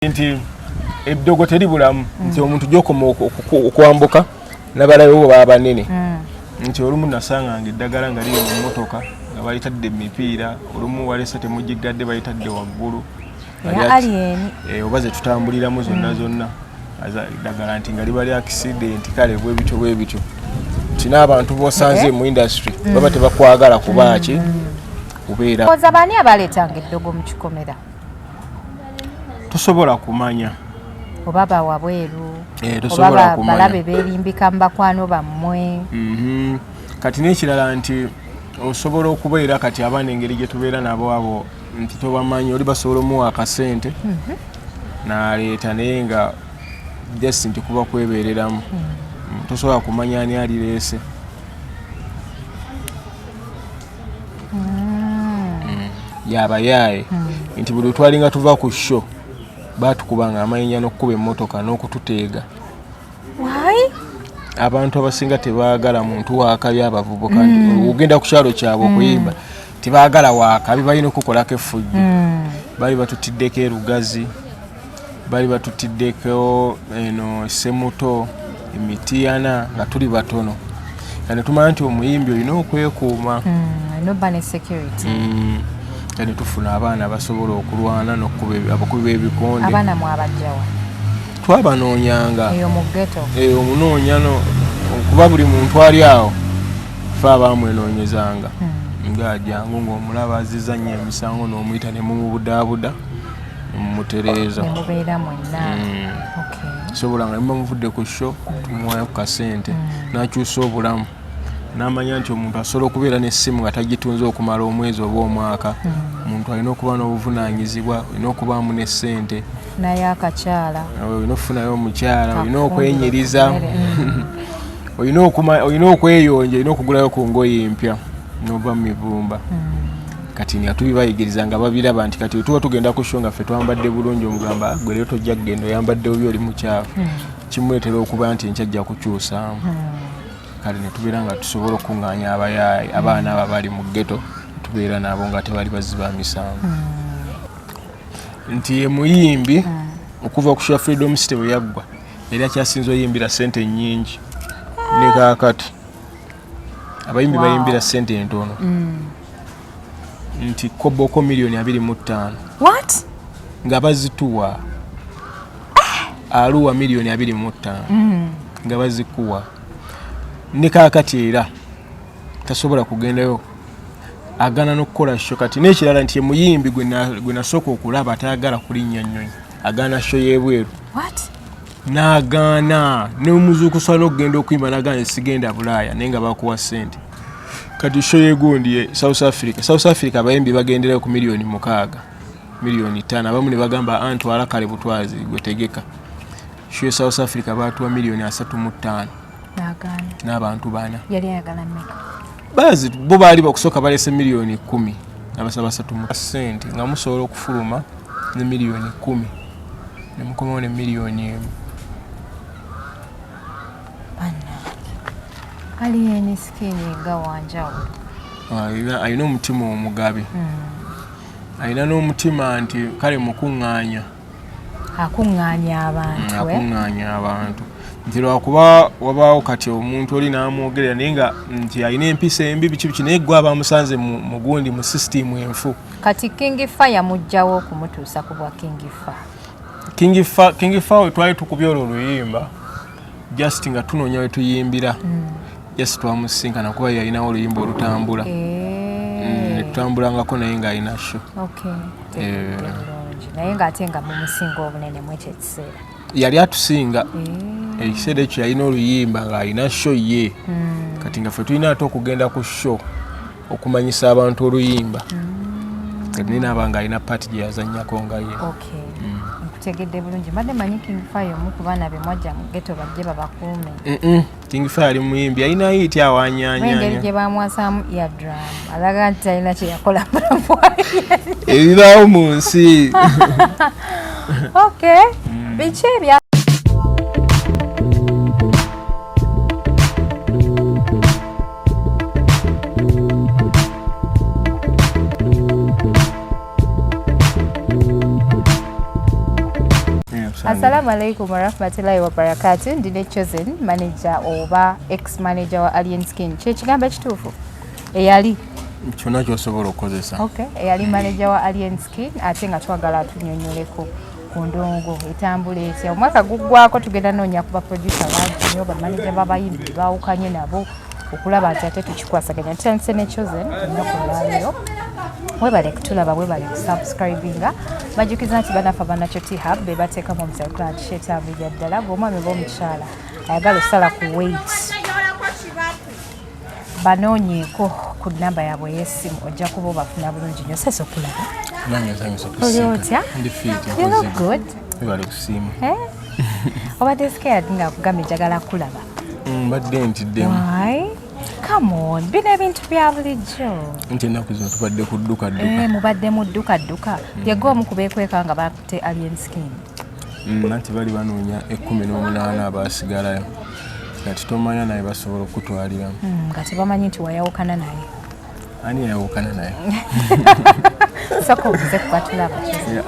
nti eddogo teribulamu mm. nti omuntu gyokoma okwambuka nabalayo bo baba banene mm. nti olumu nasanganga eddagala nga liri mu mmotoka nga balitadde emipiira olumu walesa temugiggadde balitadde waggulu eh, oba zetutambuliramu zonna mm. zonna eddagala nti nga liba lyakisideenti kale bwebityo bwebityo nti n'abantu bosanze eh? mu industry baba tebakwagala kubaaki kubeera oza baani abaleetanga eddogo mu kikomera tosobola kumanya oba bawabweru eh, oba balabe berimbika mu bakwano bammwe mhm. kati nekirala nti osobola okubeera kati abaana engeri gyetubeera nabo abo nti tobamanyi oli basobola omuwa akasente mhm. naleeta naye nga just nti kuba kwebereramu mhm. mm, tosobola kumanya ani alireese mm. yabayaaye mm. nti buli twalinga tuva ku sho batukubanga amayinja n'okukuba emmotoka n'okututeega abantu abasinga tebaagala muntu wakabi abavubuka mm. ogenda ku kyalo kyabwe okuyimba tebaagala wakabi balina okukolako efujjo bali batutiddeko erugazi bali batutiddeko eno semuto emitiyana nga tuli batono nga netumanya nti omuyimbi olina okwekuuma mm, mm. kati tufuna abaana abasobola okulwana nokukuba abakubi b'ebikonde twabanoonyanga eyo omunoonya kuba buli muntu ali awo fe abaamwenoonyezanga hmm. ng'ajangu ng'omulaba azizannya emisango n'omuyita ne mumubudaabuda mutereeza mubeera mwenna mm. sobola nga niba muvudde ku sho tumuwayo ku kasente mm. nakyusa obulamu namanya nti omuntu asobola okubeera nesimu nga tagitunze okumala omwezi oba omwaka mm. omuntu alina okuba n'obuvunanyizibwa olina okubaamu nesente naye akakyala olina okufunayo omukyala olina okwenyiriza olina okweyonja olina okugulayo ku ngoye empya nova mu mivumba kati nga tubibayigiriza nga babiraba nti kati tuba tugenda ku sho nga ffe twambadde bulungi omugamba ah, gwe leero tojja kugenda oyambadde obi oli mukyafu hmm. kimuleetera okuba nti enkyajja kukyusaamu hmm. kale netubeera nga tusobola okukuŋŋaanya abayaayi abaana abo abali mu ggeto tubeera nabo nga tebali bazzi ba misango hmm. nti ye muyimbi okuva ku sha freedom city bwe yaggwa yali akyasinza oyimbira sente nnyingi ne kaakati abayimbi wow. bayimbira sente entono mm. nti koboko milioni abiri mu ttaano nga bazituwa eh. aluwa milioni abiri mu ttaano mm. nga bazikuwa ne kakati era tasobola kugendayo agana n'okukola sho kati n'ekirala nti emuyimbi gwe nasooka okulaba atayagala kulinnya nnyonyi agana sho y'ebweru n'agaana n'omuzuukusa n'okugenda okuyimba n'agaana sigenda bulaaya naye nga bakuwa ssente kati sho yegundi ye south africa south africa abayimbi bagenderayo ku miliyoni mukaaga miliyoni ttaano abamu ne bagamba antwala ah, kale butwazi gwetegeka sho ye south africa baatuwa miliyoni asatu mu ttaano n'abantu bana bazi bo baali bakusooka balese miliyoni kumi nabasaba satu mu sente nga musobola okufuluma ne miliyoni kumi nemukomawo ne miliyoni emu aliyeni sikini nga wanjawulo ah, alina omutima omugabi hmm. alina n'omutima nti kale mukuŋŋaanya akuŋŋaanya abantu eh? akuŋŋaanya abantu nti lwakuba wabaawo kati omuntu oli n'amwogerera naye nga nti alina empisa embi biki biki naye gwe aba musanze mu gundi mu sisitiimu enfu kati kingi fa yamugjawo okumutuusa ku bwa kingi fa kingi fa kingi fa we twali tukubya olwo oluyimba just nga tunoonya we tuyimbira mm. just twamusisinkana kuba yalinawo oluyimba olutambula eh. mm, tutambulangako naye ng'alina sho eh. naye ng'ate nga mumusinga obunene mu ekyo ekiseera yali atusinga eh. ekiseera ekyo yalina oluyimba ng'alina sho ye hmm. kati nga ffe tulina ate okugenda ku sho okumanyisa abantu oluyimba hmm. kati naye naaba ng'alina paati gye yazannyako nga ye nkutegedde bulungi mbadde manyi king fire omu ku baana be mwajja mu geto bajje babakuume King Fire ali muyimbi yalina yiti awanyanya. Engeri gye bamwasamu ya drum alaga nti alina kye yakola ebibaawo mu nsi. Okay, mm. biki ebya Assalamu alaikum warahmatullahi wabarakatu ndine chosen manager oba ex manager wa Alien Skin kyekigambo ekituufu eyali kyona kyosobola okukozesa okay. eyali manager wa Alien Skin ate nga twagala atunyonyoleko ku ndongo etambula etya omwaka guggwako tugenda noonya ku baproducer bangi nyo bamanaja babayimbi bawukanye nabo okulaba nti ate tukikwasaganya tutandise ne chosen ennaku olwaleero webale kutulaba webale kusubscribinga bajjukiza nti banafa banakyo thab bebateekamu omusakola nti shetambi bya ddala gweomwami oba omukyala ayagala osala ku wait banoonyeeko ku namba yaabwe ey'essimu ojja kuba obafuna bulungi nyo sesa okulaba oli otya you look good obadde scared nga kugamba ejagala kulaba mbadde ntiddemu kamon bino ebintu bya bulijjo nti ennaku zino tubadde ku ddukadduka eh, mubadde mu ddukadduka mm. yega omu kubeekweka nga bakute alien skin mm, nanti bali banoonya ekkumi n'omunaana abaasigalayo nga titomanya naye basobola okukutwaliramu mm, nga tebamanyi nti wayawukana naye ani yayawukana naye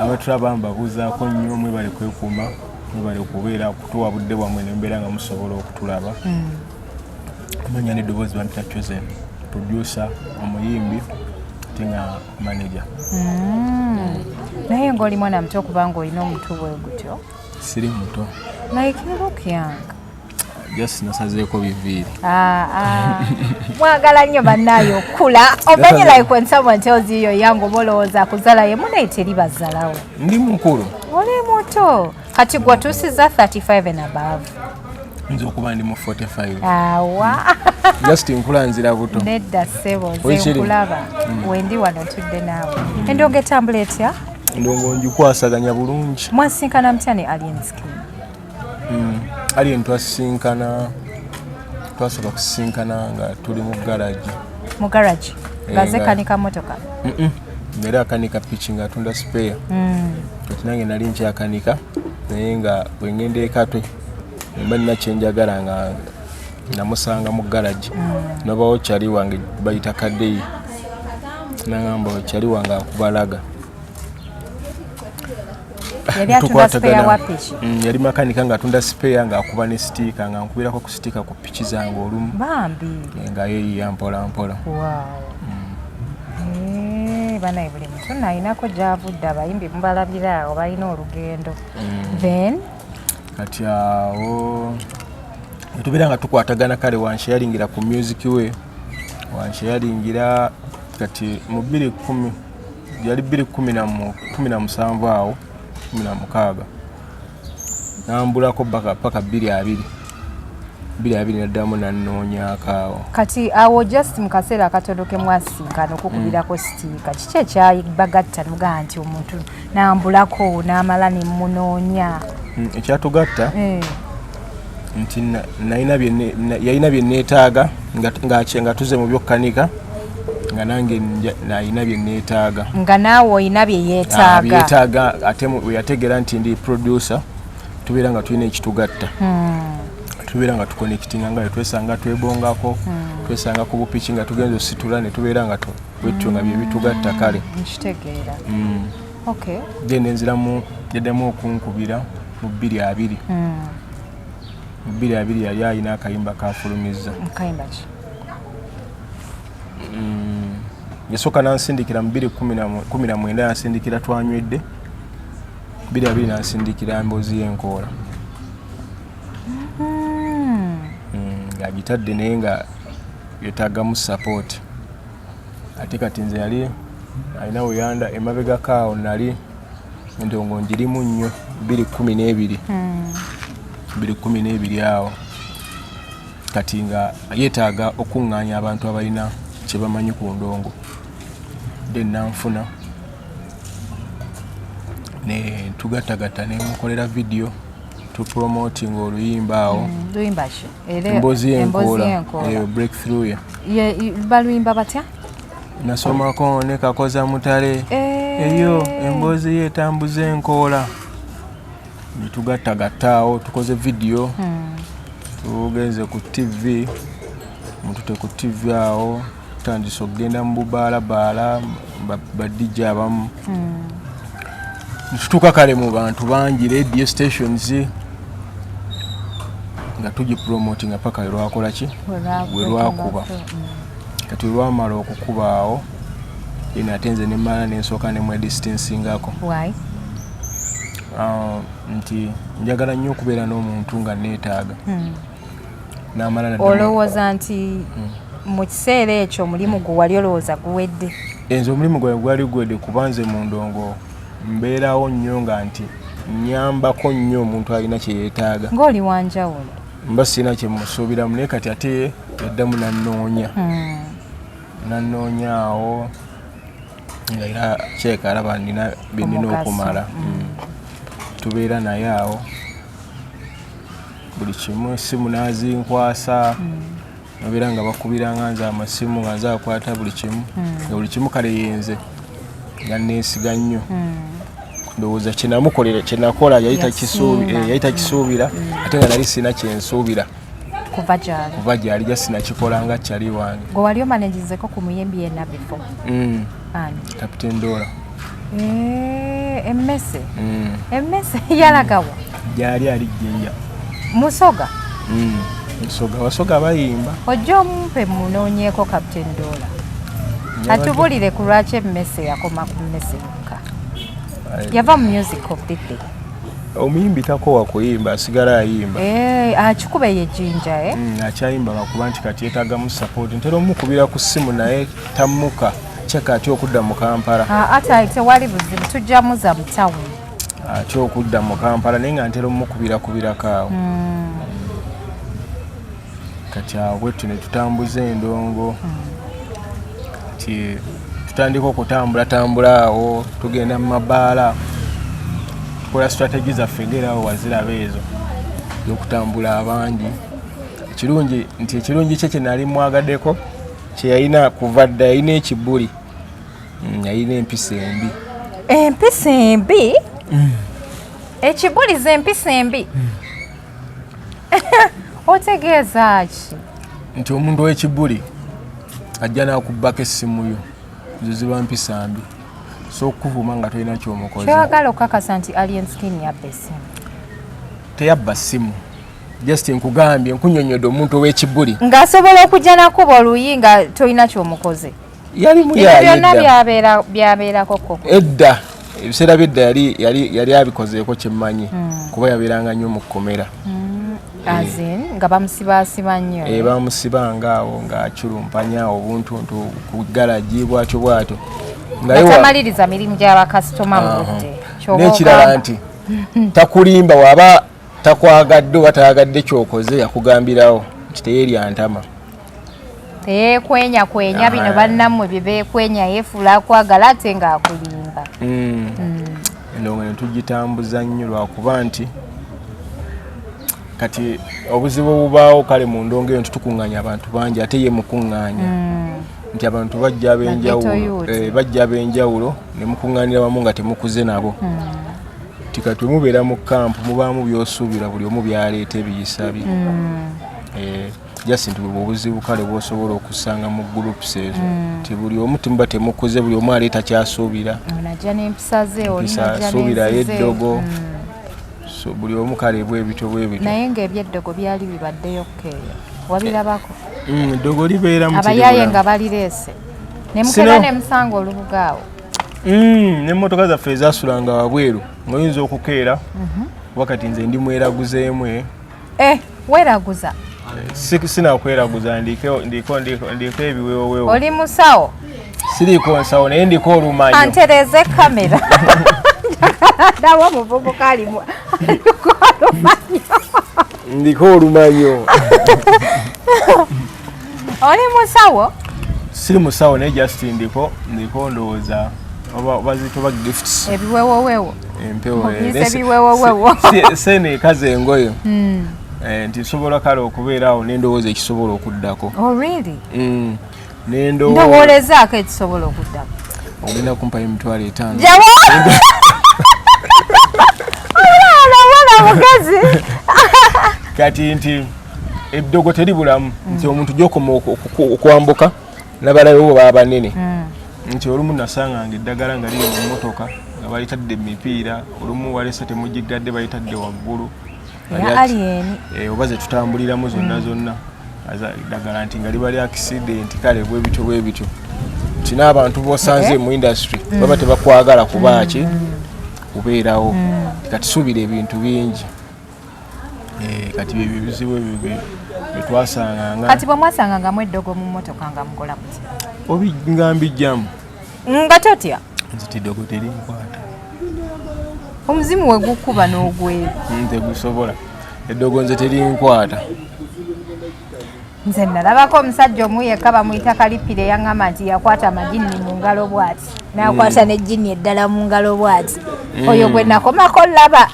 abatulaba mbabuuzaako nnyo mwebale kwekuuma mwebale okubeera kutuwa budde bwamwe nembeera nga musobola okutulaba hmm. amanya neddoboozi bampita chosen producer omuyimbi ate nga manager hmm. naye ngaoli mwana muto kubanga olina omutu bwe gutyo siri muto like you look young just nasazeeko biviiri ah, ah. mwagala nnyo bannaayo okukula omanyi like when someone tells you you're young oba olowooza akuzala ye munaye teri bazalawo ndi mukulu oli muto kati gwe otuusiza 35 and above nze okuba ndi mu 45 awa just nkula nzira buto nedda sebo zenkulaba mm. wendi wano tudde naawe endonga etambula etya ndongo njikwasaganya bulungi mwasinkana mutya ne alienskin mm, alien twasisinkana twasobola kusisinkana nga tuli mu garagi mu garagi eh, ngaze kanika motoka era akanika piki nga atunda sipeya mm. kati nange nali nkyakanika naye nga bwengenda ekatwe mba nina kyenjagala nga namusanga mu garagi mm. nobawo kyali wange bayita kadeyi nagamba kyali wange akubalaga yali atunda spare wa piki mm, yali makanika nga atunda spare nga akuba ne stiika nga nkubirako ku stiika ku piki zange olumu bambi eh, nga yeyiya mpola mpola mm. eh, banaye buli muntu nalinako gyavudde abayimbi mubalabira awo balina olugendo mm. then kati awo netubeera nga tukwatagana kale wanshe yalingira ku music we wanshe yalingira kati mu 2 1 yali bbiri kumi na musanvu awo kumi na mukaaga nambulako paka bbiri abiri bbiri abiri naddamu nanoonyakaawo kati awo just mu kaseera akatono ke mwasinkana okukubirako mm. sitiika kiki ekyabagatta nugaa nti omuntu nambulako n'amala ne munoonya mm, ekyatugatta eh. nti yalina bye neetaaga nga tuze mu byokkanika nga nange nalina bye neetaaga nga naawe olina bye yeetaagabyetaaga ah, ate weyategeera nti ndi producer tubeera nga tulina ekitugatta hmm. tubeera nga tukonekitinga nga twesanga twebongako hmm. twesanga ku bupiki nga tugenza ositula ne tubeera nga bwetyo nga byebitugatta kale hmm, okay. then nenziramu yaddamu okunkubira mu bbiri abiri mm. mu bbiri abiri yali alina akayimba kafulumizza mm. yasooka nansindikira mu bbiri kumi na mwenda yansindikira twanywedde bbiri abiri nansindikira mboozi yenkoola mm-hmm. mm, ng'agitadde naye nga yetagamu support ate kati nze yali alina weyanda emabega kaawo nali endongo njirimu nnyo biri kumi n'ebiri hmm. biri kumi n'ebiri awo kati nga yeetaaga okuŋŋaanya abantu abalina kye bamanyi ku ndongo de nanfuna ne tugattagatta ne mukolera vidiyo tupromotinga oluyimba awo hmm, emboozi y'enkoola eyo breakthrough ya baluyimba batya nasomako ne kakoza mutale eh. eyo emboozi yetambuza enkoola netugattagattaawo tukoze vidiyo hmm. tugenze ku tv mutute ku tv awo tutandise okugenda mu bubaalabaala badijja abamu hmm. tutuuka kale mu bantu bangi radio stations nga tugipromoti nga paka welwakola ki welwakuba hmm. kati welwamala okukuba awo en ate nze nemala nensooka nemwedistansingako ah, nti njagala nnyo okubeera n'omuntu nga neetaaga hmm. olowooza nti hmm. mu kiseera ekyo omulimu gwe wali olowooza guwedde enze omulimu gwawe gwali guwedde kuba nze mu ndongo mbeerawo nnyo nga nti nyambako nnyo omuntu alina kye yeetaaga ng'oli wanjawulo mba sirina kye musuubiramu naye kati ate yaddamu nannoonya hmm. nannoonya awo nga era kyeka alaba nina byenina okumala mm. Mm. tubeera naye awo buli kimu esimu nazinkwasa mm. nabeera nga bakubira nga nze amasimu nga nze akwata buli kimu hmm. nga buli kimu kale yenze nga nesiga nnyo hmm. ndowooza kyenamukolera kyenakola yali takisuubira eh, hmm. ate nga nali sirina kyensuubira kuva gyali kuva gyali just nakikola nga chali wange gwe wali omanejizeko ku muyimbi yena before mm. ani captain dola eh, emmese mm. emmese yalagawa gyali ali jinja musoga mm. musoga wasoga bayimba ojja omumpe munonyeko captain dola atubulire ku lwaki emmese yakoma ku mmese yokka yava mu music of the day omuyimbi takowa kuyimba asigala ayimba eh, akikuba eyo ejjinja eh? mm, akyayimba lwakuba nti kati yetagamu sapoti ntera omukubira ku ssimu naye tammuka kyeka atya okudda mu kampala ah, ate tewali buzibu tujjamuza mu tawuni atya okudda mu kampala naye nga ntera omukubira kubirako awo mm. kati awo bwettu ne tutambuza endongo kati tutandika okutambulatambula awo tugenda mu mabaala tukola strategy zaffe ngerawo waziraba ezo yokutambula abangi ekirungi nti ekirungi kye kyenali mwagadeko kyeyalina kuva dda yalina ekibuli mm, yalina empisa embi empisa embi mm. ekibuliza empisa embi mm. otegeeza ki nti omuntu wekibuli ajja nakubbako essimu yo nze ziba mpisa mbi so okukuvuma nga tolina kyomukozekyagala okukakasa nti alien skin yabba essimu teyabba ssimu just nkugambye nkunyonyodde omuntu owekibuli ngaasobola okujja nakuba oluyi nga tolina kyomukoze yali muyabyonna byabeerako koko edda ebiseera byedda yali yali yali abikozeeko kyemmanyi hmm. kuba yabeeranga nnyo mu kkomera hmm. eh. nga bamusibaasiba nnyo eh, bamusibanga awo ng'aculumpanya obuntuntu ku galagi bwatyo bwatyo ngaatamaliriza mirimu gyabakasitoma mu budde n'ekirala nti takulimba waba takwagadde oba tayagadde kyokoze yakugambirawo nti teyeryantama teyekwenya kwenya bino bannamwe byebekwenya yefuula akwagala ate ng'akulimba mm. mm. endongo ne tugitambuza nnyo lwakuba nti kati obuzibu obubaawo kale mu ndongo eyo nti tukuŋŋanya abantu bangi ate ye mukuŋŋanya mm. nti abantu bajja abenjawulo eh, bajja abenjawulo ne mukuŋŋanira wamu nga temukuze nabo nti kati wemubeera mu kampu mubaamu byosuubira buli omu byaleeta ebiyisa bye eh. just nti bwebwo obuzibu kale bwosobola okusanga mu groups ezo mm. nti buli omu timuba temukuze buli omu aleeta kyasuubira suubira yeddogo mm. buli omu kale bwebityo bwebityo naye ngaebyeddogo byali bibaddeyo kukeeyo wabirabako eh, mm, eddogo libeera abayaye nga balireese nemukera nemusanga olubuga awo nemotoka zaffe ezasulanga wabweru ngaoyinza okukeera mhm. wakati nze ndi mweraguzeemu eh. Eh, weraguza. Eh, sina kweraguza ndiko ndiko ndiko ndiko ebiwewewo. Oli musawo. Siriko nsawo naye ndiko olumanyo. Antereze kamera. Dawa muvubuka alimu. Ndiko olumanyo. Ndiko olumanyo. oli musawo siri musawo naye just ndiko ndiko ndowooza bazitoba gifts ebiwewowewo empewo eh, sene ekaza engoyo hmm. eh, nti nsobola kale okubeeraawo nendowooza ekisobola okuddako oh, hmm. nendowoolezaako ekisobola okuddako ogenda kumpayo emitwalo etaano kati nti eddogo teribulamu mm. nti omuntu gyokoma okwambuka nabalayo bo baba banene mm. nti olumu nasanga nga eddagala nga liri mu motoka nga balitadde mipiira olumu walese temugiggadde balitadde waggulu eh, oba zetutambuliramu zonna mm. zonna dagala nti nga libali akisidenti kale bwebityo bwebityo nti n'abantu bosanze eh? mu industry baba tebakwagala kubaaki kubeerawo kati suubira ebintu bingi Eh, kati byebyo ebizibu ebyo byetwasanganga kati bwemwasangangamu eddogo mu motoka nga mukola muti obinga mbijjamu nga totya nzita eddogo terinkwata omuzimu wegukuba n'ogwera nze gusobola eddogo nze terinkwata nze nalabako omusajja omu yekka bamuyita kalipira eyaŋŋamba nti yakwata amajinni mu ngalo bwati nakwata mm. nejjini eddala mu ngalo bwati mm. oyo gwe nakomako laba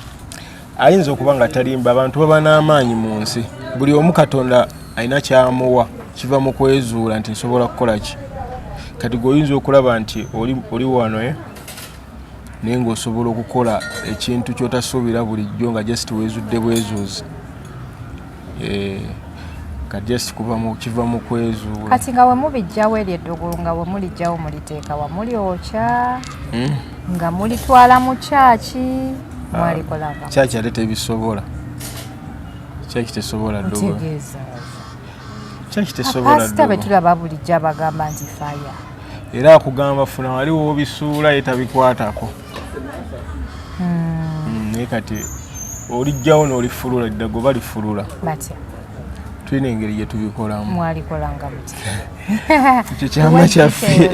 ayinza okuba nga talimba abantu baba n'amaanyi mu nsi buli omu katonda alina kyamuwa kiva mu kwezuula nti nsobola kukola ki kati gweoyinza okulaba nti oli wano eh? naye ngaosobola okukola ekintu kyotasuubira bulijjo nga just wezudde bwezuuzi Eh, ka just kuva mu kiva mu kwezuula kati nga wemubijjawo eryo eddugulu nga wemulijjawo muliteeka wa mulyokya hmm? nga mulitwala mu kyaki ah, mwalikolava kyaki ate tebisobola kyaki tesobola dtegeeza kyaki tesobolapasita betulaba bulijjo abagamba nti faya era akugamba funa wali wobisuula yetabikwatako hmm. naye kati olijjawo n'olifulula eddago balifulula batya tulina engeri gye tubikolamu mwalikolanga mutya ekyo kyama kyaffe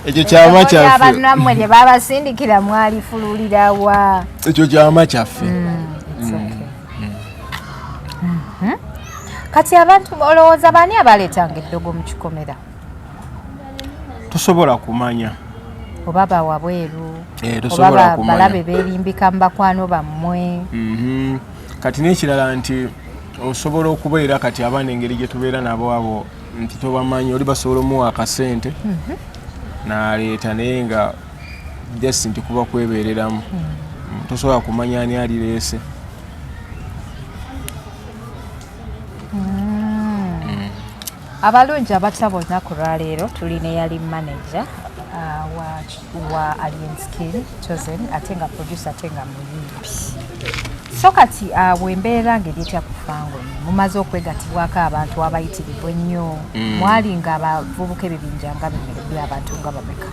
ekyo kyama kyaffebanamwe ne babasindikira mwalifululirawa ekyo kyama kyaffe hmm, hmm. hmm. kati abantu olowooza baani abaleetanga eddogo mu kikomera tosobola kumanya oba bawabweru eh, oba balabe berimbika mu bakwano bammwe mhm. kati n'ekirala nti osobola okubeera kati abaana engeri gye tubeera nabo abo nti tobamanyi oli basobola omuwa akasente mhm. naleeta naye nga just nti kuba kwebeereramu mhm. mm, tosobola kumanya ani alireese abalungi abatya bonna ku lwaleero tuli ne yali manaja uh, wa, wa alien skin chosen ate nga producer ate nga muyimbi so kati uh, bwembeera ngeri etya kufango mumaze okwegatibwako abantu abayitirivu ennyo mm. mwali nga abavubuka ebibinja nga bino byabantu nga bameka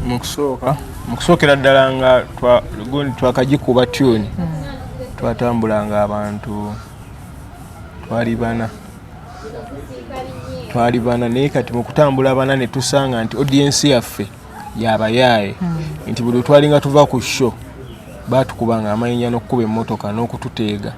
mukusooka mukusookera ddala nga gundi twakagikuba tune hmm. twatambula nga abantu twali bana twali bana naye kati mukutambula bana netusanga nti audience yaffe yabayaaye hmm. nti buli twalinga tuva ku show batukubanga amayinja nokukuba emotoka nokututeega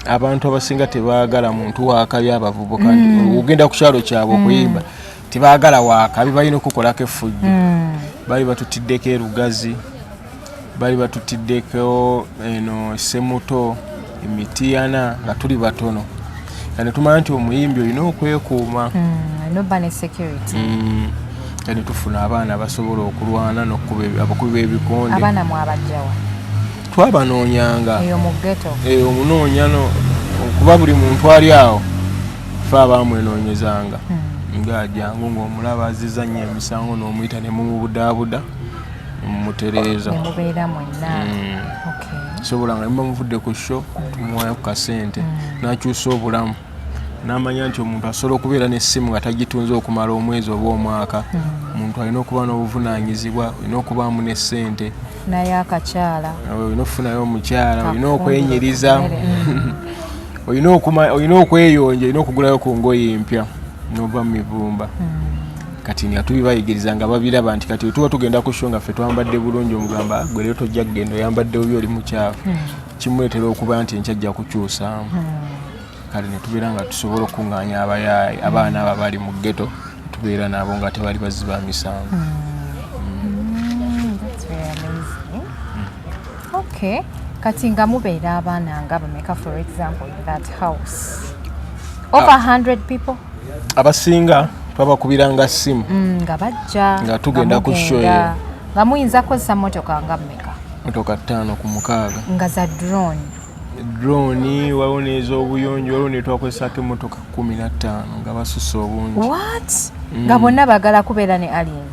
abantu abasinga tebagala muntu wakayo abavubuka hmm. ogenda kukyalo kyabwe okuyimba mm. tebagala wakabi balina okukolako effujjo hmm. bali batutiddeko erugazi bali batutiddeko eno semuto emitiyana nga tuli batono nga netumanya nti omuyimbi olina okwekuuma hmm, hmm. nga netufuna abaana basobola okulwana nokubakubi bebikonde twabanoonyanga eyo omunoonya kuba buli muntu ali awo fe abaamwenoonyezanga hmm. nga ajangu ng'omulaba aziza nnyo emisango n'omuyita ne mumubudaabuda mumutereeza mubeera mwenna hmm. sobola nga niba muvudde ku sho hmm. tumuwayo ku kasente n'akyusa obulamu n'amanya nti omuntu asobola okubeera n'essimu nga tagitunze okumala omwezi oba omwaka omuntu alina okuba n'obuvunaanyizibwa olina okubaamu n'essente naye akakyala olina okufunayo omukyala olina okwenyiriza olina okweyonja olina okugulayo ku ngoye empya nova mu mivumba hmm. kati nga tubibayigiriza nga babiraba nti kati wetuba tugenda ku sho nga ffe twambadde bulungi omugamba ah, gwe leero tojja kugenda oyambadde obi oli mukyafu hmm. kimuleetera okuba nti enkyajja kukyusaamu hmm. kale netubeera nga tusobola okukuŋŋaanya abayaaye abaana abo abali mu ggeto tubeera nabo nga tebali bazzi ba misango hmm. Hmm, hmm. kati nga mubeera abaana nga bameka for example that house over 100 ah. people abasinga twabakubiranga simu nga bajja nga tugenda ku shoye nga muyinza kukozesa motoka nga meka motoka ttaano ku mukaaga nga za drone drone waliwo n'ez'obuyonjo waliwo netwakozesako emotoka kumi na ttaano nga basusa obungi mm. nga bonna bagala kubeera ne alien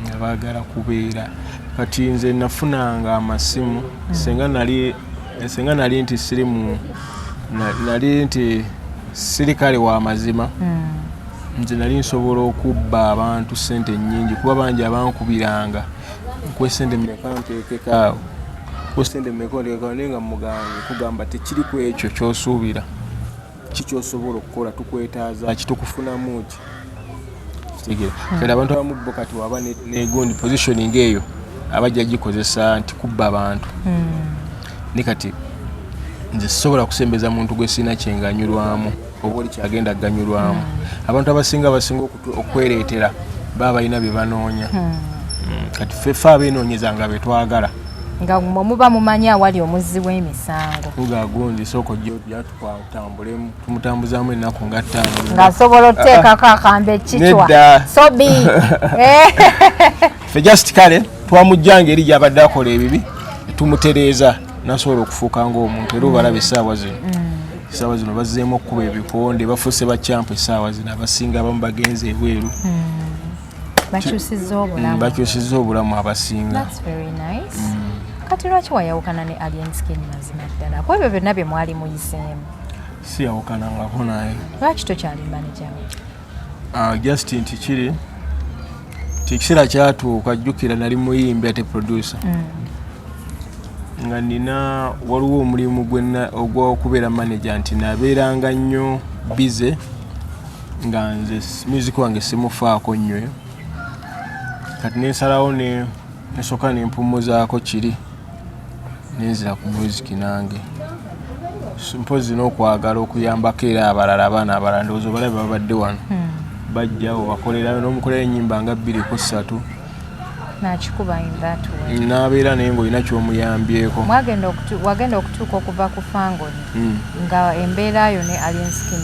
nga bagala kubeera kati nze nafunanga amasimu mm. senga nali senga nali nti siri mu nali nti sirikale wa mazima mm. nze nali nsobola okubba abantu sente nyingi kuba bangi abankubiranga nkwesende meka ntekekaawo kwesende meka ntekekaawo naye nga muganga kugamba tekiri ku ekyo kyosuubira kikyosobola okukola tukwetaaza ki tukufunamu ki kitegera hmm. kati abantu abamu bo kati waba negundi positioning eyo abajja gikozesa nti kubba abantu hmm. ne kati nze sisobola kusembeza muntu gwe sirina kyenganyulwamu oba oli kyagenda kuganyulwamu hmm. abantu abasinga basinga okwereetera baba balina bye banoonya hmm. Hmm. kati fefe abeenoonyeza nga be twagala nga mwe muba mumanyi awali omuzzi w'emisango ugagundi sooka ojjatutambulemu tumutambuzaamu ennaku nga ttaano ng'asobola oteekako akambe ekitwa sobi eh. fe just kale twamujja ngeri gyabadde akola ebibi tumutereeza nasobola okufuuka ngaomuntu era obalaba esaawa zino mm. esaawa zino bazzeemu okukuba ebikonde bafuuse bakyampu esaawa zino abasinga abamu bagenza ebweru mm. bakyusiza obulamu mm, abasinga kati lwaki wayawukana ne alien skin mazima ddala ku ebyo byonna bye mwali muyiseemu siyawukanangako naye lwaki tokyalimba nejawe Ah, just nti kiri nti ekiseera kyatuuka jjukira nali muyimbi ate producer mm. nga nina waliwo omulimu ogwokubeera manager nti nabeeranga nnyo bize nga nze music wange simufaako nnyo kati nensalawo nesooka nempumuzaako kiri nenzira ku muziki nange mpozi nokwagala okuyambako era abalala abaana abalala ndowooza obalabe babadde wano hmm. bajjawo bakolera nomukolera enyimba nga bbiri ku ssatu nabeera naye ngaolina kyomuyambyeko wagenda okutuuka okuva ku fangoni hmm. nga embeera yo ne alienskin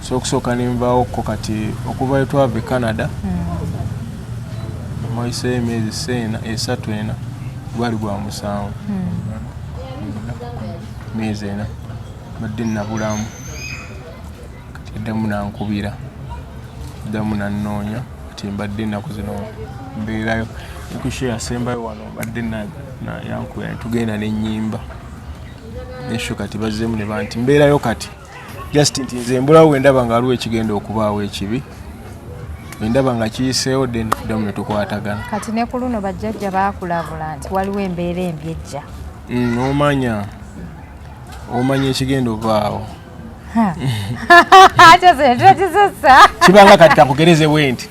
so okusooka nenvaawo ko kati okuva etwava e canada mwayiseyo hmm. emyezi seena esatu ena gwali gwa musanvu hmm. myezi ena badde nabulamu kati eddamu nankubira eddamu nanoonya kati mbadde enaku zino mbeerayo ekusho yasembayo wano mbadde yankubira netugenda nenyimba nesho kati bazzemu nebanti mbeerayo kati just nti nze mbulawo wendaba nga aliwo ekigenda okubaawo ekibi endaba nga kiyiseewo then damu netukwatagana kati ne ku luno bajjajja baakulabula nti waliwo embeera embi ejja mm, omanya omanya ekigenda ovaawo kibanga kati kakugereze bwe nti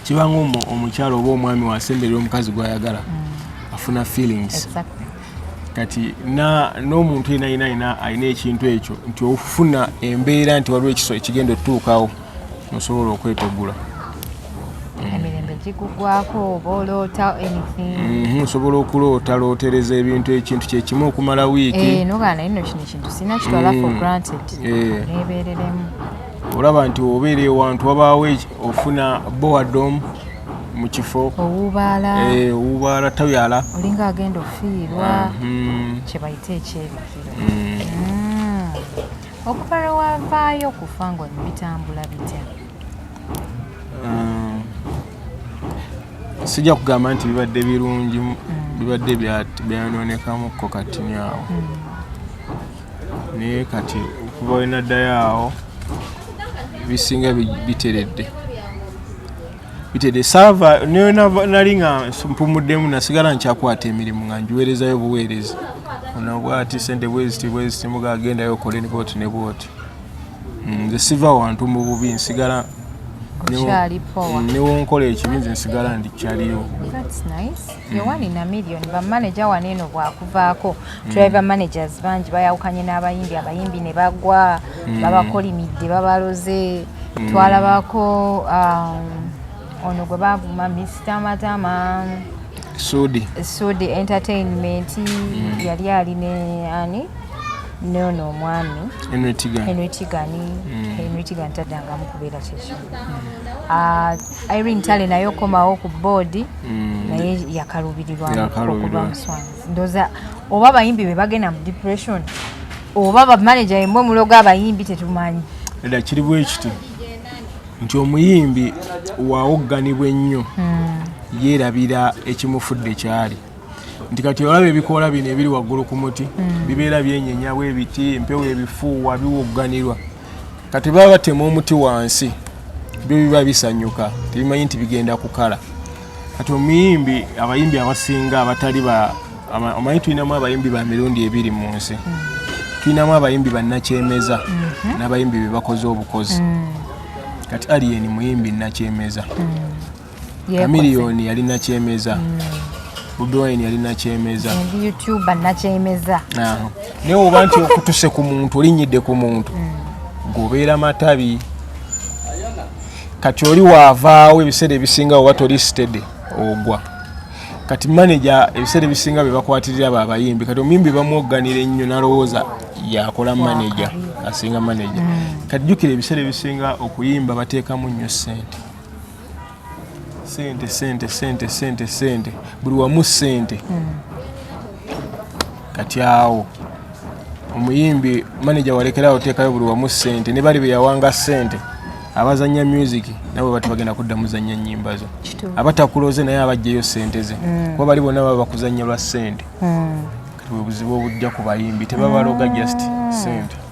kibanga omukyalo oba omwami wasemberera omukazi gwayagala mm. afuna feelings kati n'omuntu yena yena yena alina ekintu ekyo nti ofuna embeera nti waliwo ekiso ekigenda otutuukawo osobola okwetegula mhm, osobola okuloota lootereza ebintu ekintu kyekimu okumala wiiki eh, olaba nti obeera ewantu wabaawo ofuna boadom mukifo owubaala eh, owubaala tabyala olinga agenda ofiirwa mhm. kyebayita ekyebikiro mm. mm. okuva lwe wavaayo okufa nga oli bitambula bitya mm. sijja kugamba nti bibadde birungi bibadde byanonekamuko katini awo naye kati okuva wenaddayo awo ebisinga biteredde bitede saava nayo nali nga mpumuddemu nasigala nkyakwata emirimu nga njiweerezayo buweereza onabwati sente bweziti bweziti muga agendayo okole ne bwoti ne bwoti mm, nze siva wantu mu bubi nsigala newonkola ekibi nze nsigala ndikyaliyo Yowani na Million ba manager wano eno bwakuvaako tulabye mm. ba managers bangi bayawukanye n'abayimbi abayimbi ne bagwa mm. babakolimidde babaloze mm. twalabako um, ono gwe bavuma Mr Matama Sudi Sudi Entertainment yali ali ne ani nono omwami Henry Tigani Henry Tigani taddangamu kubeera kyekyo Irene Tale naye okomawo ku boodi mm. naye yakalubirirwa okuba muswanzi ndoza oba abayimbi be bagenda mu depression oba bamanaja yemwe muloga abayimbi tetumanyi era kiri bwekiti nti omuyimbi wawogganibwa ennyo mm. yeerabira ekimufudde kyali nti kati olaba ebikoola bino ebiri waggulu ku muti mm. bibeera byenyenyawo ebiti empewo ebifuuwa biwogganirwa kati baba batema omuti wansi byo biba bisanyuka tebimanyi nti bigenda kukala kati omuyimbi abayimbi abasinga abatali ba omanyi tulinamu abayimbi ba mirundi ebiri mu nsi mm. tulinamu abayimbi bannakyemeza mm-hmm. n'abayimbi be bakoze obukozi mm. kati aliyeni muyimbi nnakyemeza mm. Chameleone yali nakyemeza mm. Budwine yali nakyemeza YouTuber nakyemeza naye oba nti okutuse ku muntu olinyidde ku muntu mm. gobeera matabi kati oli waavaawo ebiseera ebisinga oba toli stede ogwa kati maneja ebiseera ebisinga bebakwatirira abo abayimbi kati omuyimbi bamwogganira ennyo nalowooza yakola maneja asinga maneja mm. kati jukira ebiseera ebisinga okuyimba bateekamu nnyo ssente sente sente sente sente sente buli wamu sente hmm. kati awo omuyimbi maneja walekerawo oteekayo buli wamu sente ne bali beyawanga sente abazanya music nabo bati bagenda kudda muzanya nyimba zo abatakuloze naye abajjeyo sente ze hmm. kuba bali bonna baba bakuzanya lwa sente hmm. kati bwebuzibu obujja ku bayimbi tebabaloga just sente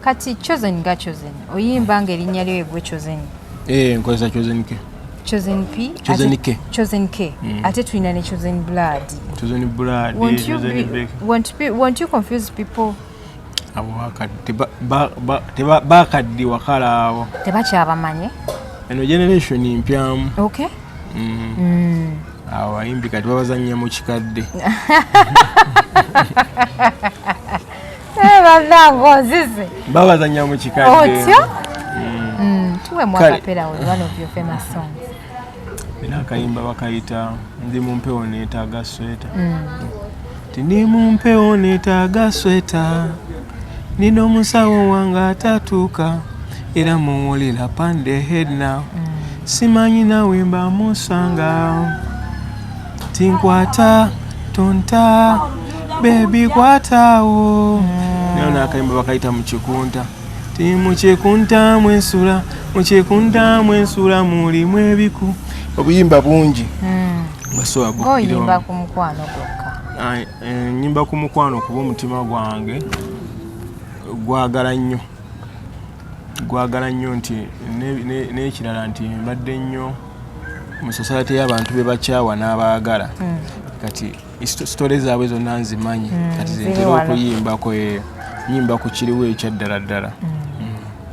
kati chosen ga chosen oyimba nga erinnya lyo egwe chosen eh nkozesa chosen ke chosen p chosen k chosen k mm. ate tulina ne chosen blood chosen blood won't you chosen be, won't be won't you confuse people abo bakadde teba bakadde wakala abo tebakyabamanye eno generation mpyamu okay mm. mm. awo ayimbi kati babazannya mu kikadde Eh, banange onzize babazanya mu kikadde otyo mm. mm, tuwemu akapera oyo one of your famous songs era akayimba bakayita ndi mu mpewo neetaaga sweta mm. ti ndi mu mpewo neetaaga sweta nina omusawo wange atatuuka era muwulira pande head now simanyi nawe mbamusanga tinkwata tonta bebi kwatawo nayo nakayimba bakayita mukikunta ti mukikunta mwensula mukikunta mwensula mulimu ebiku obuyimba bungi hmm. oyimba ku mukwano gwokka eh, nyimba ku mukwano kuba omutima gwange gwagala nnyo gwagala nnyo nti n'ekirala nti mbadde nnyo mu society y'abantu be bakyawa n'abaagala hmm. kati sitole zaabwe zonna nzimanyi hmm, kati zentera okuyimbako eh, yimba ku kiriwo ekyaddala ddala hmm.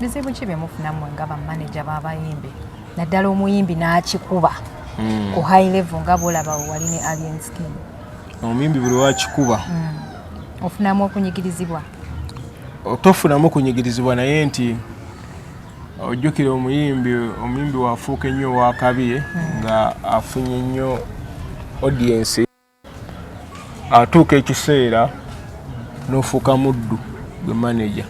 bizibu ki byemufunamu nga bamaneja b'abayimbi naddala omuyimbi n'akikuba ku high level nga bwolaba wali ne alien skin omuyimbi buli wakikuba ofunamu okunyigirizibwa tofunamu okunyigirizibwa naye nti ojjukire omuyimbi omuyimbi wafuuka ennyo owakabye nga afunye nnyo audiensi atuuka ekiseera n'ofuuka muddu gwe manaja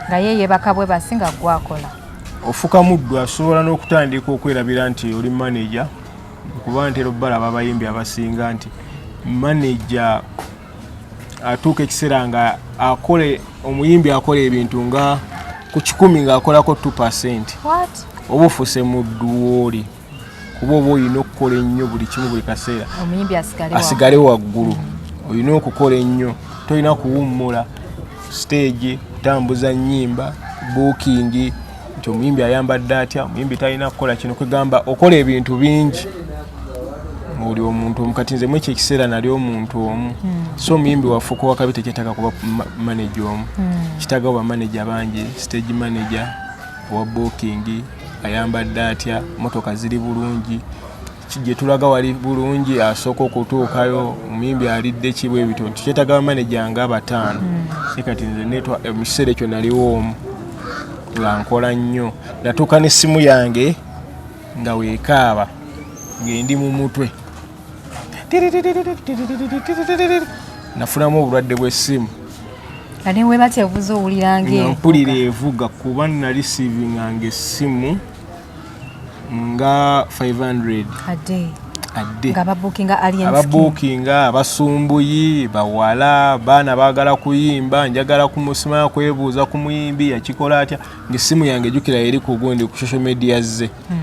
nga ye yebaka bwe basi nga gwakola ofuka muddu asobola n'okutandika okwerabira nti oli manaja kuba ntera obbalaba abayimbi abasinga nti manaja atuuka ekiseera nga akola omuyimbi akola ebintu nga ku kikumi ng'akolako 2 percent oba ofuse mu dduwooli kuba oba olina okukola ennyo buli kimu buli kaseera asigale waggulu olina okukola ennyo tolina kuwummula siteegi kutambuza nnyimba buukingi nti omuyimbi ayambadde atya omuyimbi talina kukola kino kwegamba okola ebintu bingi oli omuntu omu kati nze mwekyo ekiseera nali omuntu omu hmm. so omuyimbi waffe okuwa kabi tekyetaaga kuba manaje omu hmm. kitaaga oba manaje bangi stage manaje owa bookingi ayambadde atya motoka ziri bulungi gyetulaga wali bulungi asooka okutuukayo omuyimbi alidde kibu ebito nti kyetaga bamaneja nga abataano si kati nze netwa eh, mu kiseera ekyo naliwo omu nga nkola nnyo natuuka n'essimu yange nga weekaaba ng'endi mu mutwe nafunamu obulwadde bw'essimu ate webatya obuza owulira ngaempulira evuga kuba nali siivinga ng'essimu nga 500 akadde ababuukinga abasumbuyi bawala baana baagala kuyimba njagala kumusima kwebuuza ku muyimbi yakikola atya ngaessimu yange ejukira eri ku gundi ku social media ze hmm.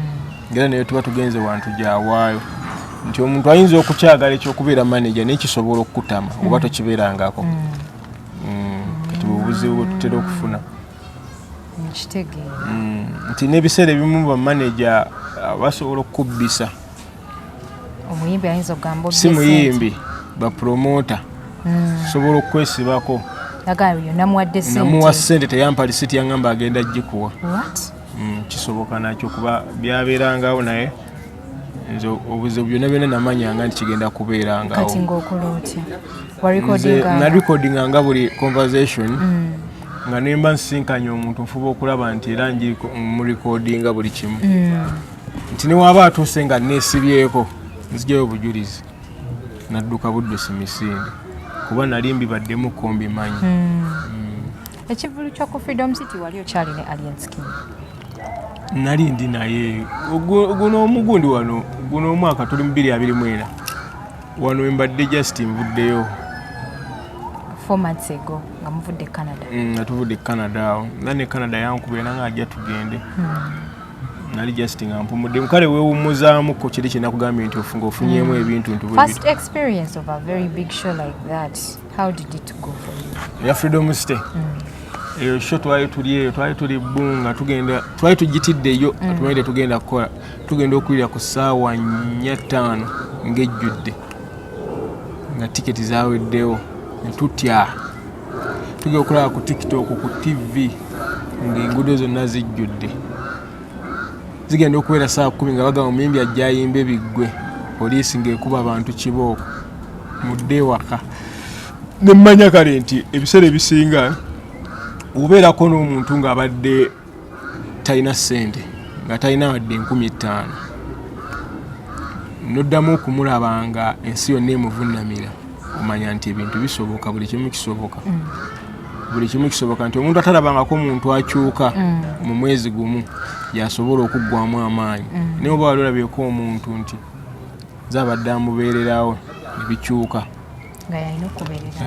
ngaera naye tuba tugenze wantu gyawaayo nti omuntu ayinza okukyagala ekyokubeera manaja naye kisobola okukutama oba hmm. tokibeerangako hmm. kati bubuzibu bwetutera okufuna Mm, nti n'ebiseera ebimu bamaneja uh, basobola okukubbisa omuyimbi ayinza okugamba si muyimbi bapromota mm. sobola okukwesibako namuwa sente teyampa lisiti yangamba agenda gikuwa mm, kisoboka nakyo kuba byabeerangawo naye nze obuzibu byonna byonna namanyanga nti kigenda kubeerangakati ngaokola otya nga buli conversation mm. nga nemba nsisinkanya omuntu nfuba okulaba nti era murekodinga buli kimu mm. nti newaba atuuse nga nesibyeko nzijayo obujulizi nadduka buddusi misinde kuba nali mbibaddemu kombimanyi mm. Ekivulu kyo ku Freedom City wali okyali ne Alien Skin? Nali ndi naye guno omugundi wano guno omwaka tuli mu biri abiri mwena wano embadde just nvuddeyo four months ago nga muvudde e Canada mm, nga tuvudde e Canada awo nga ne Canada yankubira nanga ajja tugende hmm. nali just nga mpumudde kale wewummuzaamu ko kiri kyenakugambye nti ofunga ofunyemu hmm. ebintu nti first experience of a very big show like that How did it go for you? Ya Freedom Stay. Mm. Eyo show twali tuli eyo twali tuli bunga tugenda twali tujitidde yo mm. atumaide tugenda kukola tugenda okulira ku saawa nnya ttaano ng'ejjudde nga tiketi zaweddewo ne tutya tugenda okulaba ku tiktok ku tv ng'enguudo zonna zijjudde zigenda okubeera saa kumi nga bagamba omuyimbi ajja ayimba ebiggwe poliisi ng'ekuba abantu kibooko mudde ewaka ne mmanya kale nti ebiseera ebisinga obeerako n'omuntu ng'abadde talina ssente nga talina wadde enkumi ttaano noddamu okumulaba nga ensi yonna emuvunnamira omanya nti ebintu bisoboka buli kimu kisoboka mm. buli kimu kisoboka nti omuntu atalabangako omuntu akyuka mm. mu mwezi gumu yasobola okuggwamu amaanyi mm. naye oba wali olabyeko omuntu nti zabadde amubeererawo ebikyuka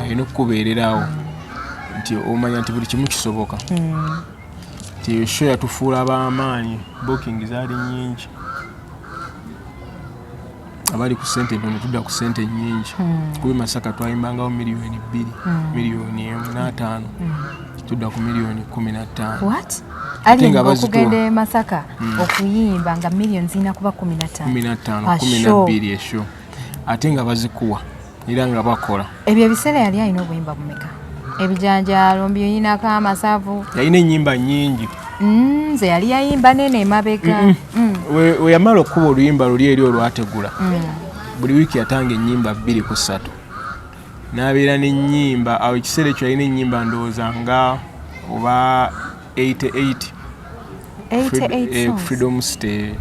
alina okukubeererawo nti omanya nti buli kimu kisoboka mm. nti esho yatufuula b'amaanyi booking zaali nyingi abali ku sente entono tudda ku sente enyingi hmm. kuba emasaka twayimbangawo miliyoni bbiri hmm. miliyoni emu n'ataano hmm. tudda ku miliyoni kumi nattaano okugenda emasaka okuyimba nga miliyoni zirina kuba kumi nattaano kumi nabbiri esho ate nga bazikuwa era nga bakola ebyo ebiseera yali alina obuyimba bumeka ebijanjaalo mbi oyinako amasavu yalina ennyimba nyingi mm, nze yali yayimba nene emabega mm. weyamala okukuba oluyimba luli eri olwategula mm. buli wiiki yatanga ennyimba bbiri ku ssatu n'abeera n'ennyimba awo ekiseera ekyo yalina ennyimba ndowooza nga oba 88 eh, freedom stay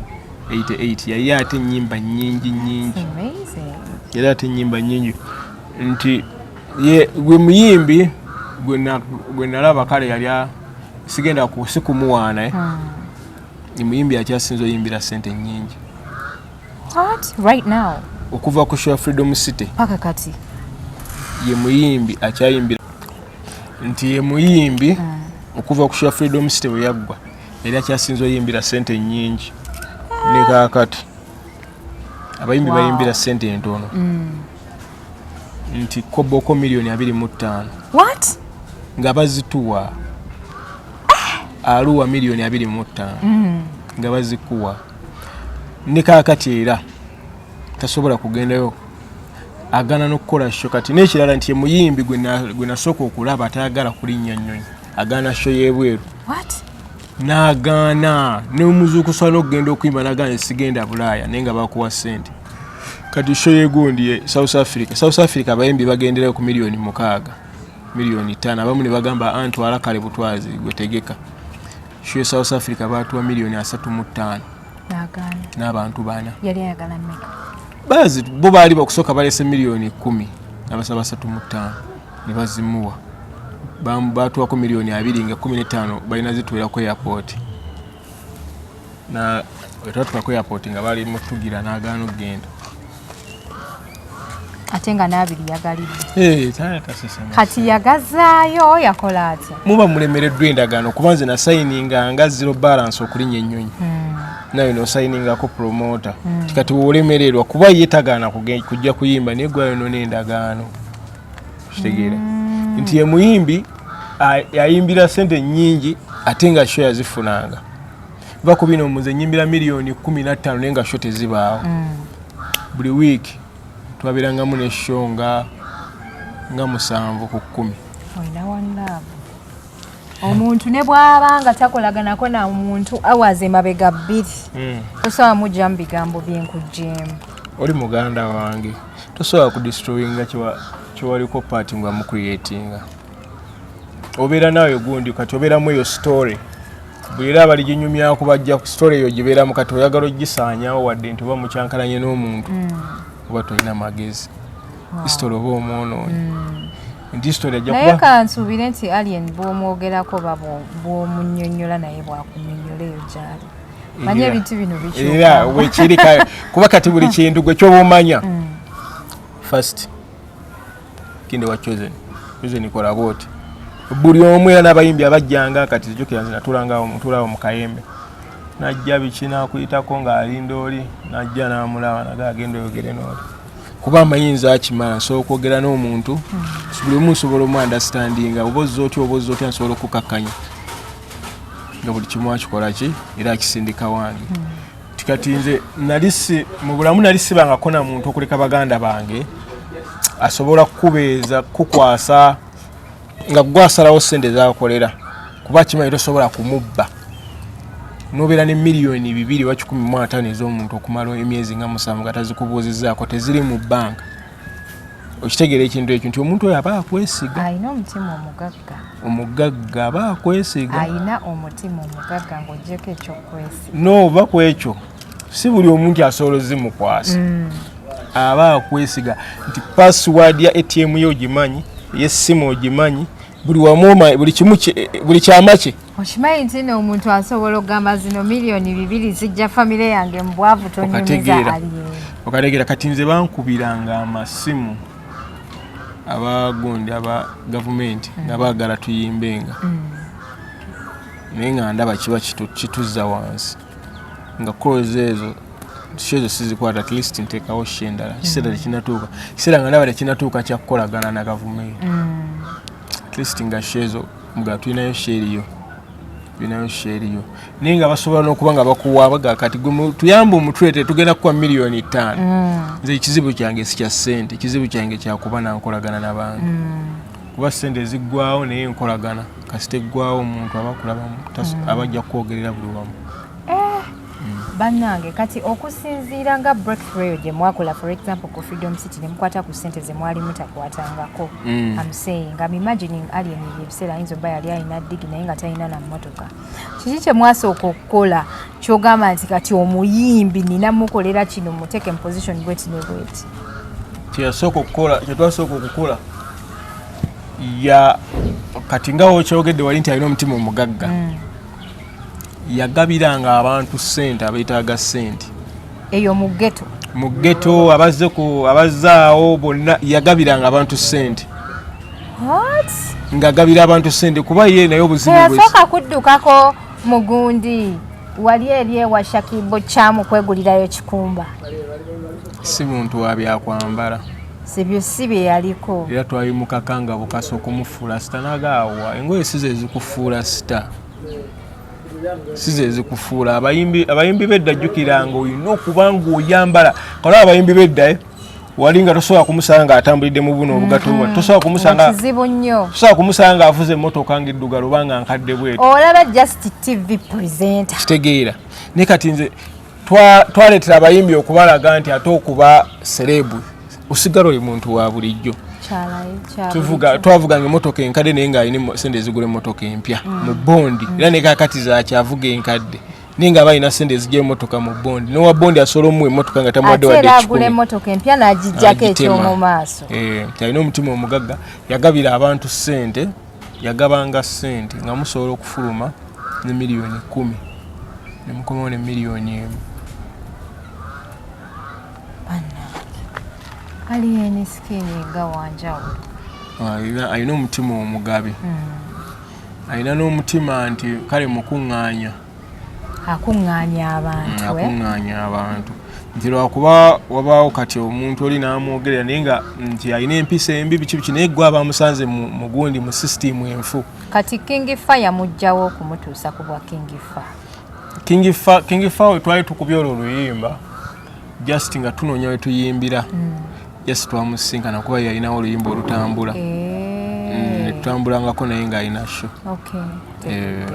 88 yali ate enyimba nyingi nyingi yali ate enyimba nyingi nti ye gwe muyimbi gwe nalaba kale yali sigenda kusi kumuwaana eh? hmm. ni muyimbi akyasinza oyimbira sente nyingi okuva ku show freedom city paka kati ye muyimbi akyayimbira nti ye muyimbi ah. okuva ku sha freedom city bwe yaggwa era kyasinza oyimbira sente nyingi ah. ne kakati abayimbi bayimbira sente entono mm. nti koboko miliyoni abiri mu ttaano nga bazituwa ah. aluwa miliyoni abiri mu ttaano mm. nga bazikuwa ne kakati era tasobola kugendayo agana nokukola sho kati nekirala nti emuyimbi gwenasooka okulaba atayagala kulinnya nnyonyi agana sho yebweru nagaana nomuzuukusa nokugenda okuyimba nagaana esigenda bulaaya naye nga bakuwa sente kati sho yegundi e south africa south africa abayimbi bagenderayo ku miliyoni mukaaga miliyoni tano abamu nebagamba antwala ah, kale butwazi gwetegeka sho south africa batuwa miliyoni asatu mu ttaano n'abantu bana bazi bo baali bakusooka balese miliyoni ekumi nabasaba basatu mu ttaano ne bazimuwa baatuwako miliyoni abiri nga kumi n'ettaano balina zituwera ku airport twatuka ku airport nga bali mutugira n'agaana okugenda ate nga n'abiri yagalidde kati yagazaayo yakola atya muba mulemereddwa endagaano kuba nze nasayininga nga zero balance okulinya ennyonyi hmm. nawe nosayiningako promota hmm. kati wolemererwa kuba ye tagaana kujja kuyimba naye gwayonona endagaano kitegeera hmm. nti emuyimbi ayimbira sente nyingi ate nga sho yazifunanga va ku bino muze nyimbira miliyoni kumi nattaano naye nga sho tezibaawo hmm. buli wiiki twabeerangamu nesho nga nga musanvu ku kkumi omuntu ne bwaba nga takolaganako na muntu awaze mabega bbiri hmm. tosobola mujja mu bigambo byenkujjeemu oli muganda wange tosobola kudistroyinga kyewaliko paati nga mucreatinga obeera naawe gundi kati obeeramu eyo story buli era abaliginyumyaku bajja ku story eyo gibeeramu kati oyagala ogisaanyawo wadde nti oba mukyankalanye n'omuntu hmm. oba tolina magezi hmm. story oba omwonoonyi naye kansuubire nti alien bwomwogerako oba bwomunyonyola naye bwakunyonyola eyo gyali manye ebintu bino bikyera wekiri kuba kati buli kintu gwe kyoba omanya mm. first kinde wa chosen chosen kola bwoti buli omu era n'abayimbi abajjanga kati zijukira nze natulangaawo mutulaawo mu kayembe najja biki nakuyitako ng'alinda oli najja n'amulaba naga agenda oyogere n'oli kuba amayinza akimala nsobola okwogera n'omuntu buli omu nsobola omu andastandinga oba ozza otya oba ozza otya nsobola okukakkanya nga buli kimu akikola ki era akisindika wange nti kati nze nali si mu bulamu nali sibangako na muntu okuleka baganda bange asobola kukubeeza kukukwasa nga gwe asalawo sente zakolera kuba kimanyi tosobola kumubba nobeera ne miliyoni bibiri oba kikumi mu ataano ez'omuntu okumala emyezi nga musanvu nga tazikubuuzizaako teziri mu banka okitegeera ekintu ekyo nti omuntu oyo aba akwesiga alina omutima omugagga omugagga aba akwesiga alina omutima omugagga ngaogyeko ekyokwesiga nooba ku ekyo si buli omu nti asobola ozimukwasa mm. aba akwesiga nti password ya atm yo ogimanyi eyessimu ogimanyi buli wamu buli kimu buli kyama kye okimanyi nti no omuntu asobola okugamba zino miliyoni bibiri zijja famire yange mu bwavu tonyumiza okategeera kati nze bankubiranga amasimu abagundi aba gavumenti nga baagala tuyimbenga mm. naye nga ndaba kiba kituzza wansi nga calls ezo shezo sizikwata at least ntekawo she endala mm. kiseera tekinatuuka kiseera nga ndaba tekinatuuka kyakukolagana na gavumenti mm. at least nga shezo nga tulinayo sheeriyo tulinayo sheeriyo naye nga basobola n'okuba nga bakuwaabaga kati tuyamba omutwe te tugenda kukuwa miliyoni ttaano mm. nze ekizibu kyange sikya ssente ekizibu kyange kyakuba nankolagana nabantu kuba sente eziggwawo naye enkolagana kasita eggwawo omuntu aba kulabamu hmm. aba ajja kukwogerera buli wamu eh, hmm. bannange kati okusinziira nga breakthrough gye mwakola for example ku freedom city ne mukwata ku ssente ze mwali mutakwatangako hmm. am saying am imagining alien ebyo ebiseera ayinza oba yali alina digi naye nga talina na mmotoka kiki kyemwasooka okukola kyogamba nti kati omuyimbi nina mukolera kino muteeke mu position bweti ne bweti kyeyasooka okukola kyetwasooka okukola ya kati nga okyogedde wali nti alina omutima omugagga mm. yagabiranga abantu sente abetaaga sente eyo mu ghetto mu ghetto abazze ku abazzaawo bonna yagabiranga abantu ssente ng'agabira abantu ssente kuba ye naye obuzibu yasooka kuddukako mugundi wali eri ewa shakibo kyamu kwegulirayo kikumba si muntu wa byakwambala sibyo si bye yaliko era twabimukakanga bukasa okumufuula sita nagaawa engoye sizo ezikufuula sita si zezikufuula abayimbi bedda jjukiranga olina okuba ngaoyambala kalaba abayimbi bedda eh? wali nga tosobola kumusanga atambulidde mu buno obugato mm-hmm. tosobola kumusanga kizibu nnyo tosobola kumusanga avuze emmotoka nga eddugala oba nga nkadde bweti olaba just tv presenter kitegeera naye kati nze twaleetera abayimbi okubalaga nti ate okuba sereebu osigala oli muntu wa bulijjo twavuganga emotoka enkadde naye ngaalina sente ezigula emotoka empya mm. mu bondi era nekakati zakyavuga enkadde naye nga balina sente ezija emotoka mu bondi nowa bondi asobola omuwa emotoka nga tamuwaddewaddekikula emotoka empya nagijjako ekyomumaaso eh, alina omutima omugagga yagabira abantu sente yagabanga sente nga musobola okufuluma ne miliyoni kumi nemukomawo ne miliyoni emu aliyeni sikini nga wanjawulo ah, alina omutima omugabi hmm. alina n'omutima nti kale mukuŋŋaanya akuŋŋaanya abantu eh? akuŋŋaanya abantu nti lwakuba wabaawo kati omuntu oli n'amwogerera naye nga nti alina empisa embi biki biki naye gwe aba amusanze mu gundi mu sisitiimu enfu kati kingi fa yamugjawo okumutuusa ku bwa kingi fa kingi fa twali tukubya olwo oluyimba just nga tunoonya we tuyimbira mm. just twamusisinkana kuba yalinawo oluyimba olutambula eh. mm, netutambulangako naye ng'alina sho eh.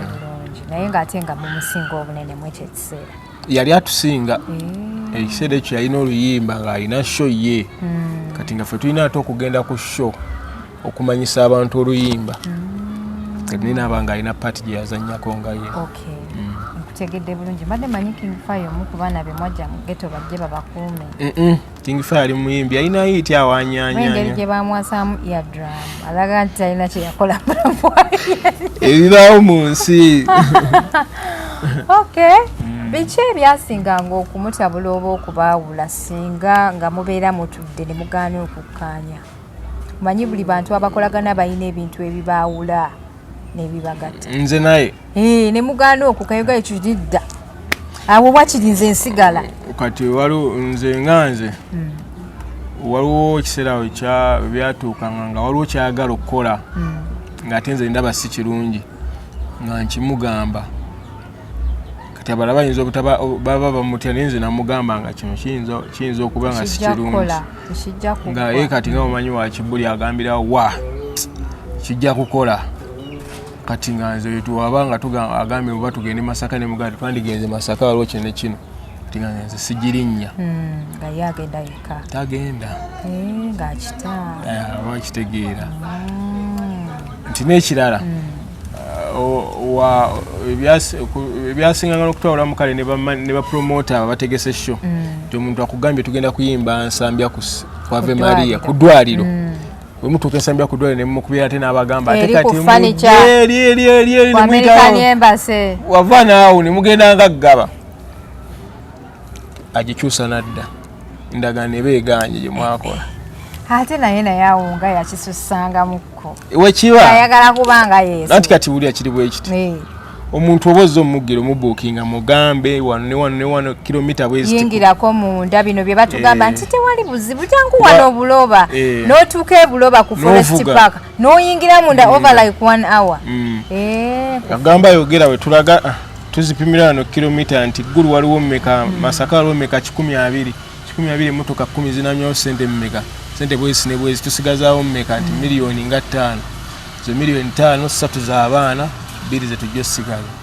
naye ng'ate nga mumusinga obunene mwekyo ekiseera yali atusinga eh. ekiseera ekyo yalina oluyimba ng'alina sho ye mm. kati nga fe tulina ate okugenda ku sho okumanyisa abantu oluyimba mm. naye naaba nga alina paati gye yazannyako nga ye mm. nkutegedde bulungi mbadde manyi king fire omu ku baana be mwajja mu geto bajje babakuume king fire ali muyimbi alina yiiti awanyanyengeri gye bamwasaamu eardram alaga nti talina kye yakola ebibaawo mu nsi okay mm. biki ebyasinganga okumutabula oba okubaawula singa nga mubeera mutudde ne mugaana okukkaanya manyi buli bantu abakolagana balina ebintu ebibaawula nebibagatta nze naye eh, ne mugaana oku kayoga ekyo kidda awo wakiri nze nsigala kati waliwo nze nga nze hmm. waliwo ekiseera awo byatuukanga nga waliwo kyagala okukola hmm. ng'ate nze ndaba si kirungi nga nkimugamba kati abalala bayinza obutaba baba bamutya naye nze namugamba nga kino kiyinza okuba nga sikirungi nga ye kati nga mumanyi wakibuli agambira wa kijja kukola kati nga nze wetwaba nga agambye oba tugende masaka ne muganda twandigenze masaka waliwo kino ne kino tigana nze sigirinnya hmm, nga ye agenda yekka tagenda eh, ng'akita eh, aba akitegeera hmm. nti n'ekirala hmm. uh, ebyasinganga n'okutwawulamu kale ne bapromota abategese sho nti omuntu akugambye tugenda kuyimba nsambya kwave maria ku ddwaliro wemutuuka ensambira ku dwale nemumukubira ate n'abagamba ate kati wava naawo nemugenda nga ggaba agikyusa nadda endagaano eba eganye gye mwakola ate naye naye awo nga yakisusangamuko wekiba ayagala kubanga yesu nanti kati wulira kiri bwekiti omuntu oba ozze omugiro mubuukinga mugambe wano ne wano ne wano kilomita bweziyingirako munda bino bye batugamba eh. nti tewali buzibu jangu wano obuloba eh. n'otuuka ebuloba ku forest park n'oyingira munda mm. over like one hour mm. eh. agamba yogera we tulaga ah, tuzipimira wano kilomita nti ggulu waliwo mmeka mm. masaka waliwo mmeka kikumi abiri kikumi abiri emmotoka kkumi zinanyawo sente mmeka sente bwezi ne bwezi tusigazaawo mmeka nti miliyoni nga ttaano zo miliyoni taano satu za baana bbiri zetujja osigala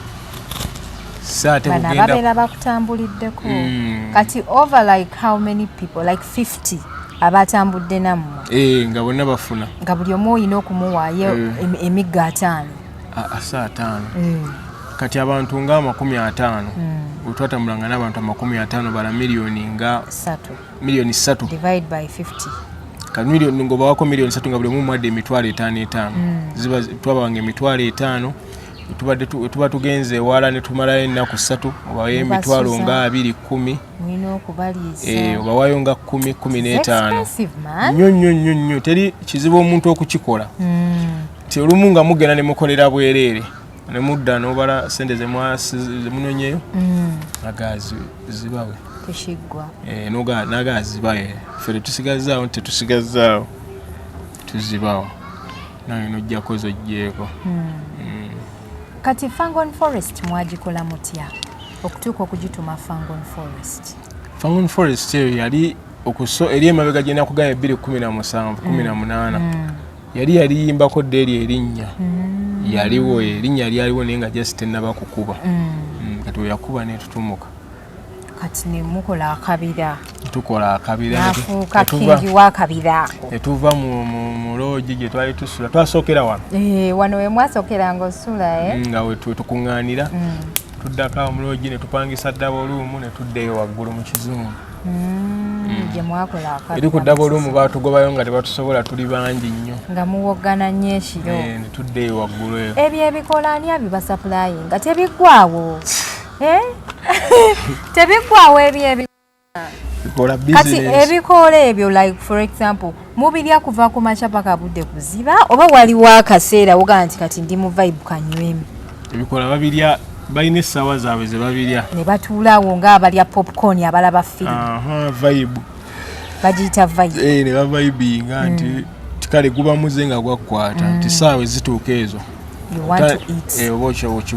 babeera bakutambuliddeko mm. kati over like how many people like 50 abatambudde nammwe eh, nga bonna bafuna nga buli omu olina okumuwaayo eh. emigga ataano asa ataano eh. kati abantu nga amakumi ataano mm. wetwatambulanga n'abantu amakumi ataano bala miliyoni nga satu million 3 divide by 50 ka million ngo bawako million 3 ngabule mu mwade mitwalo etano etano mm. ziba twaba wange mitwalo etano tubade tu, tuba tugenze wala ne tumala ena ku 3 obaye mitwalo nga 2 10 mwino okubaliza eh obawayo nga 10 15 nyo nyo nyo nyo teri kizibu omuntu okukikola mm. ti olumu nga mugena ne mukolera bwerere ne mudda n'obala sente zemunonyeyo mm. aga zibawe tekiggwa eh, naga azibawe eh, fe tetusigazaawo nti tetusigazaawo tuzibawo naye nojjako zojjeeko mm. mm. kati fangon forest mwagikola mutya okutuuka okugituma fangon forest fangon forest eyo yali okuso eri emabega gyenaku gaya ebbiri kumi na musanvu kumi na munaana yali yaliyimbako dda eryo erinnya mm. yaliwo erinnya lyaliwo naye nga just tenaba kukuba mm. Mm, kati weyakuba netutumuka kati nemukola akabira tukola akabirafuuka kingi wakabira etuva mu loogi gye twali tusula twasookera wano eh, wano wemwasokera nga osula eh? nga wetukuŋŋaanira tuddako omuloogi netupangisa ddaba oluumu netuddeyo waggulu mu kizungu mm, gyemwakola akabi eri ku ddaba olumu batugobayo nga tebatusobola tuli bangi nnyo nga muwoggana nnyo ekiro eh, tuddeeyo waggulu eyo ebyo ebikola ani abibasapulayi nga tebiggwawo eh? tebiggwawo ebyo ebikati ebikoola ebyo like for example mubirya kuva ku makya paka budde kuziba oba waliwo akaseera wogaa nti kati ndi mu vibe kanywemu ebikola babirya balina essaawa zaabwe ze babirya ne batuulaawo ngaabalya popcorn abalaba firimu vibe bagiyita vibe eh, ne bavibinga hmm. nti kale guba muze nga gwakukwata nti hmm. saawa ezituuka ezo eh, oba okyoboki